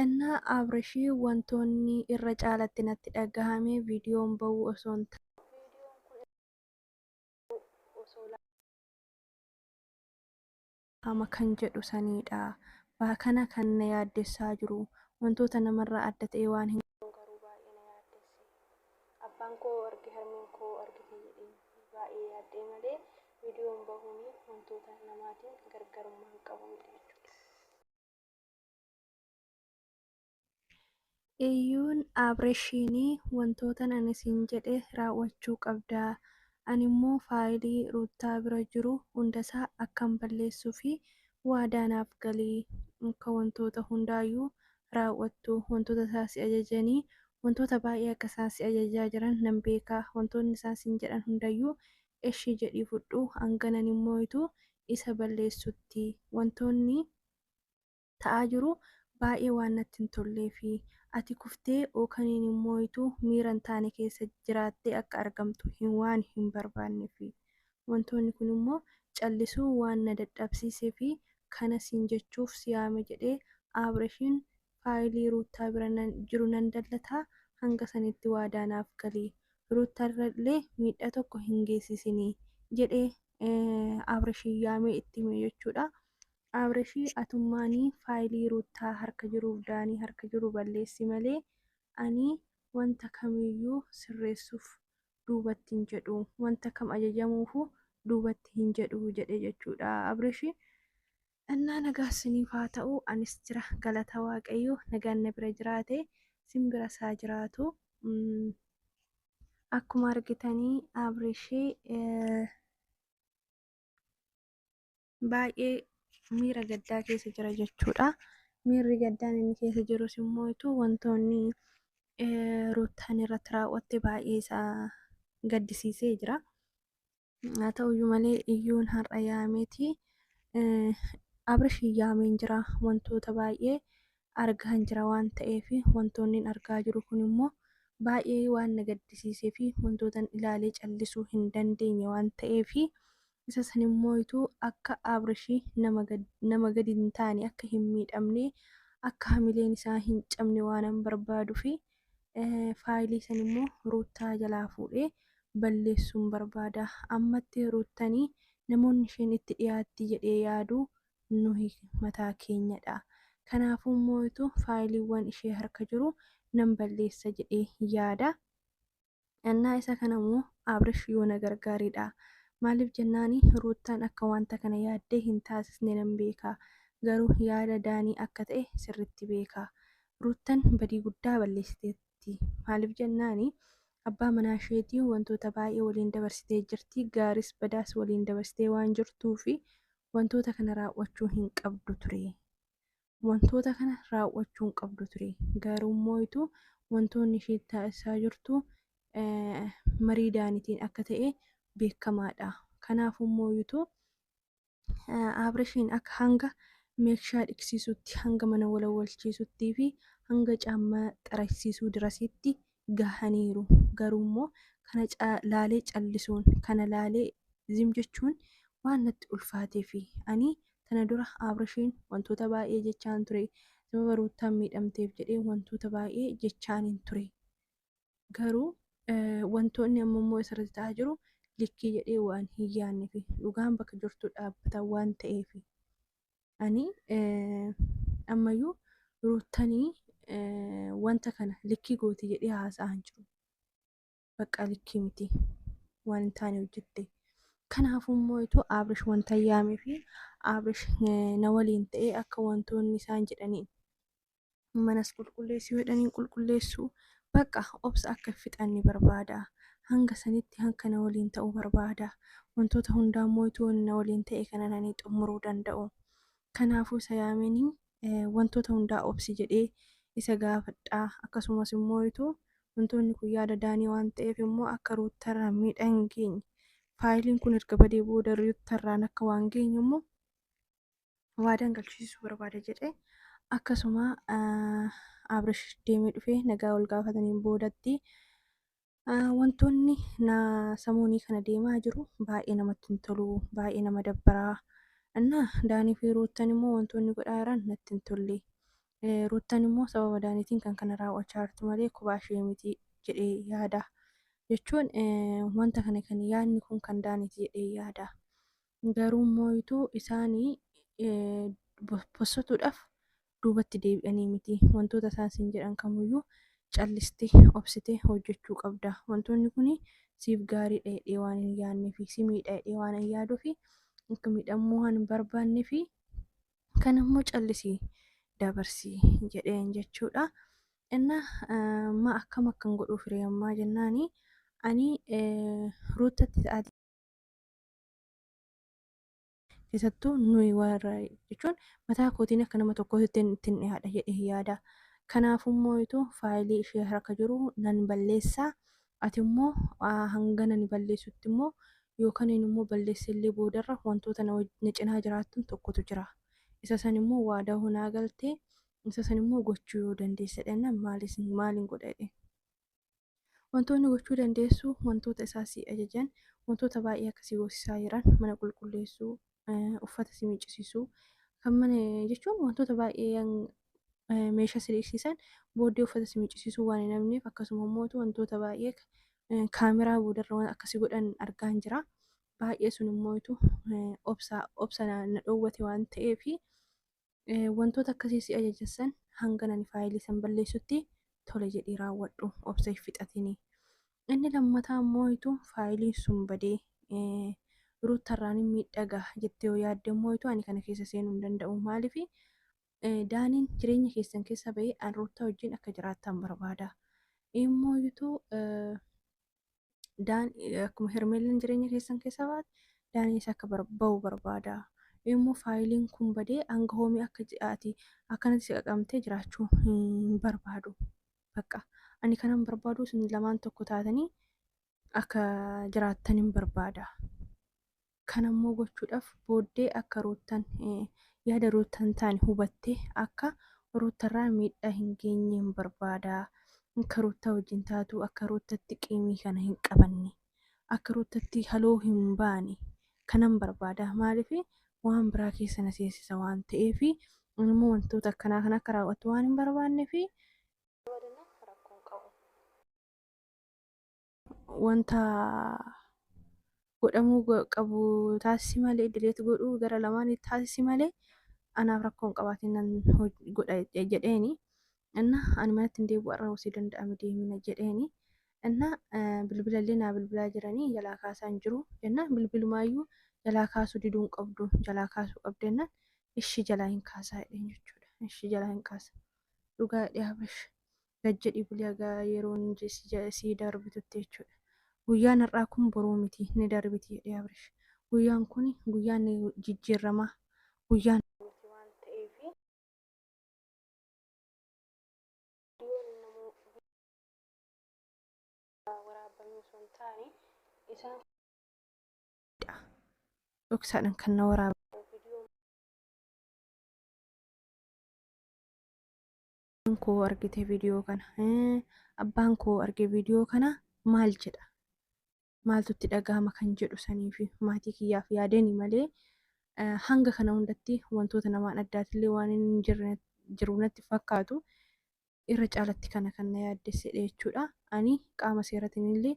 Inna Abrishi wantoonni irra caalatti natti dhagahame viidiyoon ba'uu osoo hin taane. Viidiyoon kun irra caalatti osoo laalamu. dhagahama kan jedhu saniidha. Baakana kan na yaaddessaa jiru. Wantoota namarraa adda ta'ee waan hin. Viidiyoon garuu baay'ee na yaaddesse. Abbaan koo arge harmeen koo argite jedheen baay'ee yaadda'e malee viidiyoon bahuun wantoota namaatiin gargarummaa hin qabu miti jechuudha. Iyyuun Abreshiin, Wantootan ani siin jedhe raawwachuu qabda, ani immoo faayilii Ruuttaa bira jiru hundasaa akkan balleessuufi waadaa naaf gali, akka wantoota hundaayyuu raawwattu, wantoota isaa si ajajanii wantoota baay'ee akka isaan si ajajaa jiran nan beeka, wantoonni isaan siin jedhan hundayyuu eshi jedhii fudhu hanga nan hin mooytu isa balleessutti wantoonni ta'aa jiru baay'ee waan natti hin tolleefi ati kuftee ookaniin hin mooytu miira hin taane keessa jiraattee akka argamtu hin waan hin barbaannefi wantoonni kun immoo callisuu waan na dadhabsiiseefi kana siin jechuuf si yaame jedhee Aabreshiin faayilii Ruuttaa bira jiru nan dallata, hanga sanitti waadaa naaf gali. Ruuttarrallee miidhaa tokko hin geessisini jedhee Abrashii yaamee itti hime jechuudha. Abrashii atummaani faayilii Ruuttaa harka jiruuf Daanii harka jiru balleessi malee ani wanta kamiyyuu sirreessuuf duubatti hin jedhu, wanta kam ajajamuufuu duubatti hin jedhu jedhe jechuudha Abrashii. Annaa nagaa siniif haa ta'u anis jira galata waaqayyo nagaan na bira jiraate sin bira saa jiraatu akkuma argitanii abrishi baay'ee miira gaddaa keessa jira jechuudha miirri gaddaan inni keessa jirus immoo ituu wantoonni ruuttaan irratti raawwatte baay'ee isaa gaddisiisee jira Haa ta'uyyuu malee iyyuun har'a yaameeti abrish yaameen jira wantoota baay'ee argaan jira waan ta'eef wantoonni argaa jiru kun immoo baay'ee waan na gaddisiisee fi wantootan ilaalee callisuu hin dandeenye waan ta'eef isa san immoo ituu akka abrish nama gadi hin taane akka hin miidhamne akka hamileen isaa hin cabne waanan barbaadu fi faayilii san immoo ruuttaa jalaa fuudhee balleessuun barbaada ammatti ruuttanii namoonni isheen itti dhiyaatti jedhee yaadu nuhi mataa keenyadha kanaafuu mootu faayiliiwwan ishee harka jiru nan balleessa jedhee yaada Ennaa isa kana immoo Abrish yoo na gargaaredha. Maaliif jennaan Ruuttaan akka wanta kana yaaddee hin taasisne nan beeka. Garuu yaada Daanii akka ta'e sirriitti beeka. Ruuttan badii guddaa balleessiteetti. Maaliif jennaan abbaa manaa isheetii wantoota baay'ee waliin dabarsitee jirti, gaariis badaas waliin dabarsitee waan jirtuuf wantoota kana raawwachuu hin qabdu ture. wantoota kana raawwachuu hin qabdu ture garuu immoo itu wantoonni isheen taasisaa jirtu marii daanitiin akka ta'e beekamaadha kanaaf immoo itu abrishiin akka hanga meekshaa dhiqsiisutti hanga mana walawalchiisuttii fi hanga caammaa xarasiisuu dirasitti gahaniiru. Garuummoo kana laalee callisuun, kana laalee zim jechuun waan natti ulfaateefi. Ani tana dura Abrashiin wantoota baay'ee jechaan ture. Sababa Ruuttaan miidhamteef jedhee wantoota baay'ee jechaanin ture. Garuu wantoonni amma immoo isarratti ta'aa jiru likkii jedhee waan hin yaanneefi. Dhugaan bakka jirtu dhaabbata waan ta'eefi. ani ammayyuu ruuttanii wanta kana likkii gooti jedhee haasa'aa hin jiru. Baqqaa likkii miti waan hin taane hojjette. Kanaafuu immoo itoo Abrish wanta yaamee fi Abrish na waliin ta'ee akka wantoonni isaan jedhaniin manas qulqulleessuu jedhan hin qulqulleessu bakka obsa akka fixanni barbaada hanga sanitti hanka na waliin ta'u barbaada wantoota hundaa immoo ituu na waliin ta'e kana nani xumuruu danda'u kanaafuu isa yaameenii wantoota hundaa obsi jedhee isa gaafadhaa akkasumas immoo ituu wantoonni kun yaada daanii waan ta'eef immoo akka ruuttarraa miidhaan geenye faayiliin kun erga badee booda ruuttarraan akka waan geenyu immoo waadaan galchisiisuu barbaada jedhe akkasuma abrish deemee dhufee nagaa wal gaafataniin boodatti wantoonni na samuunii kana deemaa jiru baay'ee namatti hin tolu baay'ee nama dabbaraa innaa daanii fi ruuttan immoo wantoonni godhaa jiran natti hin tolle ruuttan immoo sababa daaniitiin kan kana raawwachaa jirtu malee kubaa ishee miti jedhee yaada jechuun wanta kana kan yaadni kun kan daaniiti jedhee yaada. Garuu immoo utuu isaan bossatuudhaaf duubatti deebi'anii miti. Wantoota isaan siin jedhan kamuu iyyuu callistee, obsitee hojjechuu qabda. Wantoonni kun siif gaarii dha jedhee waan hin yaadnee fi si miidha jedhee waan hin yaaduu fi akka miidhamuu waan hin barbaadnee fi kan immoo callisii dabarsii jedheen jechuudha. Inna ma akkam akkan godhuu firee ammaa jennaani ani ruuttatti ta'aa keessattuu nuyi warra jechuun mataa kootiin akka nama tokkootti ittiin ittiin dhiyaadha jedhee yaada. Kanaafuu immoo ituu faayilii ishee harka jiru nan balleessa. Ati immoo ah, hanga nani balleessutti immoo yookaan inni immoo balleessee illee boodarra wantoota na waj- na cinaa jiraattan tokkotu jira. Isa san immoo waadaa hoo naa galtee isa san immoo gochuu yoo dandeessedha jennaan maal isin maal hin godha jedheen. Wantoonni gochuu dandeessu wantoota isaa si ajajan wantoota baay'ee akka si goosisaa jiran mana qulqulleessuu, eh, uffata si miiccisiisuu kan mana jechuun wantoota baay'ee yang- eh, meeshaa si dhiqsiisan booddee uffata si miiccisiisuu waan hin hafneef akkasuma immoo wantoota baay'ee ka- eh, kaameraa boodarra waan akka si godhan argaan jira. Baay'ee sun immoo itu eh, obsa obsa na na dhoowwate waan ta'eefi Wantoota akkasii si ajajessan hanga nani faayilii san balleessutti tole jedhii raawwadhu obsa hin fixatinii. Inni lammataa immoo hitu faayiliin sun badee ruuttarraanin miidhaa gaha jettee yoo yaadde immoo hitu ani kana keessa seenuu hin danda'u maaliif daaniin jireenya keessan keessa ba'ee an ruuttaa wajjin akka jiraattan barbaada. Immoo hitu Daan akkuma Hermeellan jireenya keessan keessa baate Daaniis akka bar- ba'u barbaada. Immoo faayiliin kun badee hanga hoomii akka ji- ati akkanatti si qaqamtee jiraachuu hin barbaadu. Bakka ani kanan barbaadu isin lamaan tokko taatanii akka jiraattan hin barbaada. Kana immoo gochuudhaaf booddee akka Ruuttan yaada Ruut hin taane hubattee akka Ruuttarraa miidhaa hin geenyeen barbaada. Akka Ruuttaa wajjin taatu, akka Ruuttatti qiimii kana hin qabanne, akka Ruuttatti haloo hin baane kanan barbaada. Maaliif waan biraa keessa na seensisa waan ta'eef ani immoo wantoota akkanaa kana akka raawwattu waan hin barbaanneef. Dabalinaan rakkoon qabu. wanta godhamuu go- qabu taasisi malee dileet godhuu gara lamaanii taasisi malee anaaf rakkoo hin qabaatiin nan hoj- godha je- jedheeni inna ani manatti hin deebi'u har'a osoo danda'ame deemina jedheeni inna eh, bilbilallee naa bilbilaa jiranii jalaa kaasaa hin jiru jennaan bilbilumaayyuu jalaa kaasuu diduu hin qabdu jalaa kaasuu qabda jennaan ishi jalaa hin kaasaa jedheen jechuudha ishi jalaa hin kaasa dhugaa jedhee abrash gad jedhii buli haga yeroon sii darbitutti jechuudha. Guyyaan har'aa kun boruu miti ni darbiti jedhee Abrish. Guyyaan kun guyyaan jijjiirramaa guyyaan miti waan ta'eef viidiyoon namoo waraabame osoo hin taane isaan dhoksaadhaan kan na waraabame. Abbaan koo argite viidiyoo kana. Eh, Abbaan koo arge viidiyoo kana maal jedha? Maaltu itti dhaga'ama kan jedhu sanii fi maatii kiyyaaf yaadani malee eh, hanga kana hundatti wantoota namaan addaatillee waan hin jirre jiru natti fakkaatu irra caalatti kana kan na yaaddessedha jechuudha. Ani qaama seeratiin illee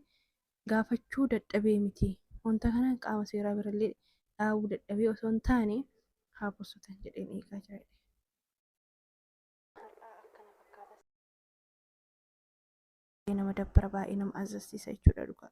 gaafachuu dadhabee miti. Wanta kana qaama seeraa birallee dhaabuu dadhabee osoo hin taane haa bossotan jedheen eegaa jira. har'aa akkana fakkaata. baay'ee nama dabbara baay'ee nama azzasiisa jechuudha dhugaa.